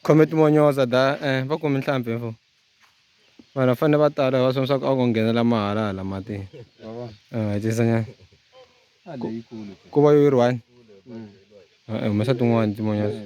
khome timonyoza da eh, va kumi nhlampfi mfo vanhu va fanele va tala va swona swa ku a ko nghenela mahala hala matini eh, tisanyana ku va yo yi ri one humesa tin'wana timonyoza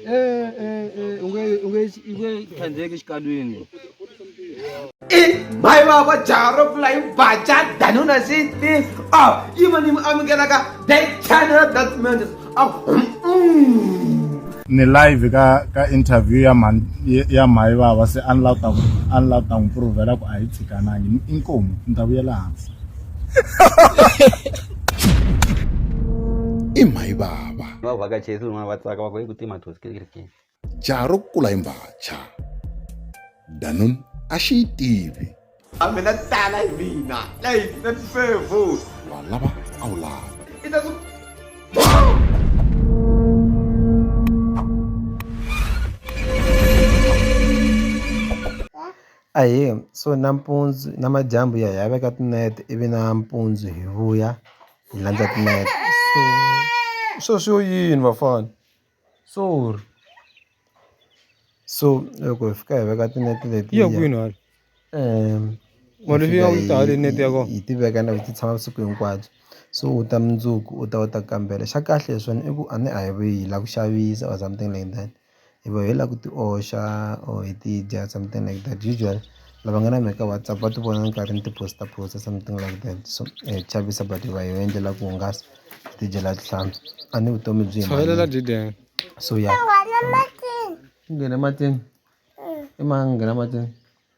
Eh, eh, eh, unge- unge- unge tlhandleki exikalwini mhayi vava jaha ro pfula yi baca danuna sixteen a yi ma ni mi amukelaka the channel that matters a ni live ka ka interview ya mhani ya mhayi vava se a ni la ta a ni la ta n'wi provela ku a yi tshikanangi Ni- inkomu ni ta vuyela hansi i mhayi vava vavhakachesi un'wana va tsaka va ku yi ku tima thosikirikini jaha ro kula hi mbacha danon a xi yi tivi a mina tala hi mina leyi na tifevo wa lava a wu lava ahee so nampundzu namadyambu ya hi ya veka tinete ivi nampundzu hi vuya hi landza timepe so swo swo yini vafana sorry so loko hi fika hi veka tinete leti ya kwini hala um mali liya u yi ta haleni nete ya kona hi ti veka na ti tshama vusiku hinkwabyo so u ta mundzuku u ta u ta kambela xa kahle hi swona i ku a ni a hi yi lava ku xavisa or something like that. hi va hi lava ku ti oxa or hi ti dya something like that usually lava nga na mhaka WhatsApp va ti vona ni karhi ni ti post post something like that so hi chavisa but hi va hi endlela ku hungasa hi ti dyela tihlampfi a ni vutomi byi so ya nghena matini i ma nghena matini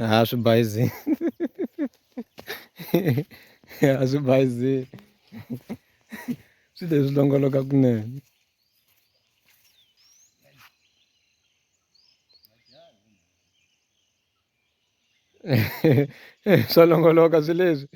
a swi bayizini a swi bayizini swi leswi longoloka kunene swa longoloka swi leswi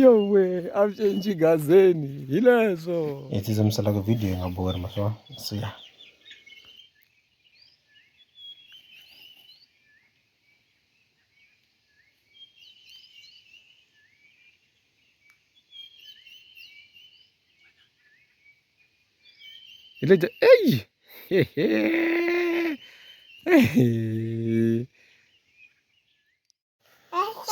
yo we a swi cinci gazeni hi leswo hi tsitsamiselaka video yi nga bori maswona siya Etejo ei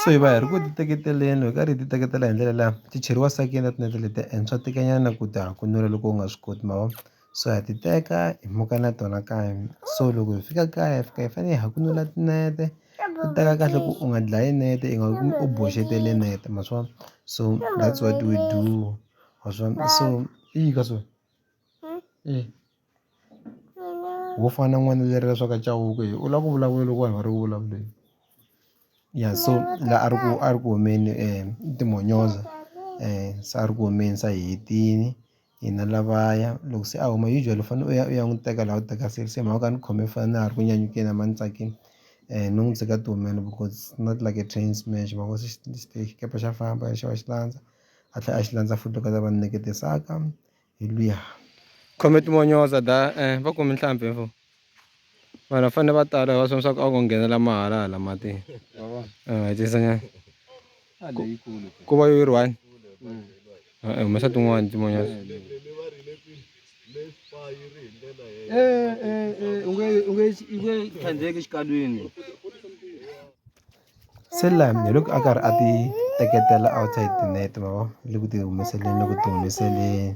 soiva hi ri ku titeketeleni hi karhi hi titeketela hi ndlela leya ti cheriwa sakinet net leti henhla tikanyana ku ta ha kunula loko u nga swi koti ma vona so ha ti teka hi muka na tona kaya so loko hi fika kaya hi fika hi fanele hi hakunula tinete u teka kahle ku u nga dlayi nete i nga kumi u boxetele nete ma swi vona so that's what we do ma swi vona so i yini ka so i wo fana na n'wana a lerivele swa ku a cawuke yini u lava ku vulavula loko vanhu va ri ku vulavuleni ya so la a ri ku a ri ku humeni i timonyoza se a ri ku humeni se a hi hetini. hina lavaya loko se a huma usually u fanele u ya u ya n'wi teka laha u teka se se mhaka a ni khome foni na ha ri ku nyanyukeni a ma ni tsakeli no n'wi tshika tihumeleni because not like a train smash ma vo se xikepe xa famba xi va xi landza a tlhela a xi landza futhi loko a za va ni nyikete saka hi luya khome timonyo dada va ku mintlhambi . vanhu va fanele va tala va swi leswaku a ku nghenela mahala hala matini hetisa nyana ku va yi ri one e-e humesa tin'wani tin'wanyana u nge u nge u nge tlhandleki exikalwini se lani hi loko a karhi a ti teketela outside net ma vo le ku ti humeseleni le ku ti humeseleni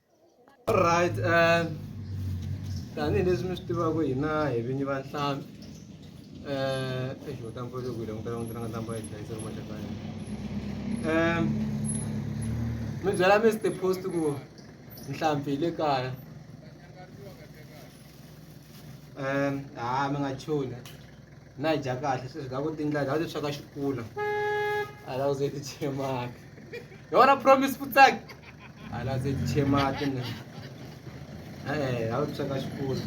Alright, uh, tanihileswi mi swi tivaka hina hi vinyi va nhlampfi um exi u tampa loko hi langutela n'wina nga tampa hi hlayisa ri maxaka yena um mi byela mr post ku nhlampfi hi le kaya ha mi nga chuni na dya kahle se swi nga ku tindla ndhawu leswi swaka xikula a la ze ti chemaka yona promise futsaki a la ze ti chemaka ne eh ndhawu leswi swaka xikula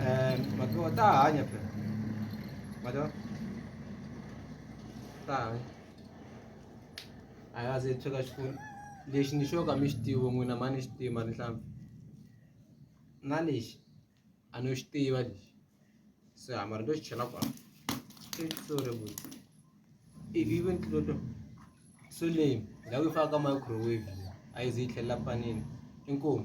eh matiwa ta hanya phela matiwa ta hanya a la ze ti swaka xikula lexi ni xo ka mi xi tivi n'wina mhani xi tiva ni nhlampfi na lexi a no xi tiva lexi se ha mara to xi chela kwala sorry boy if you even clear to so leyi la ku faka microwave a yi ze yi tlhelela panini inkomu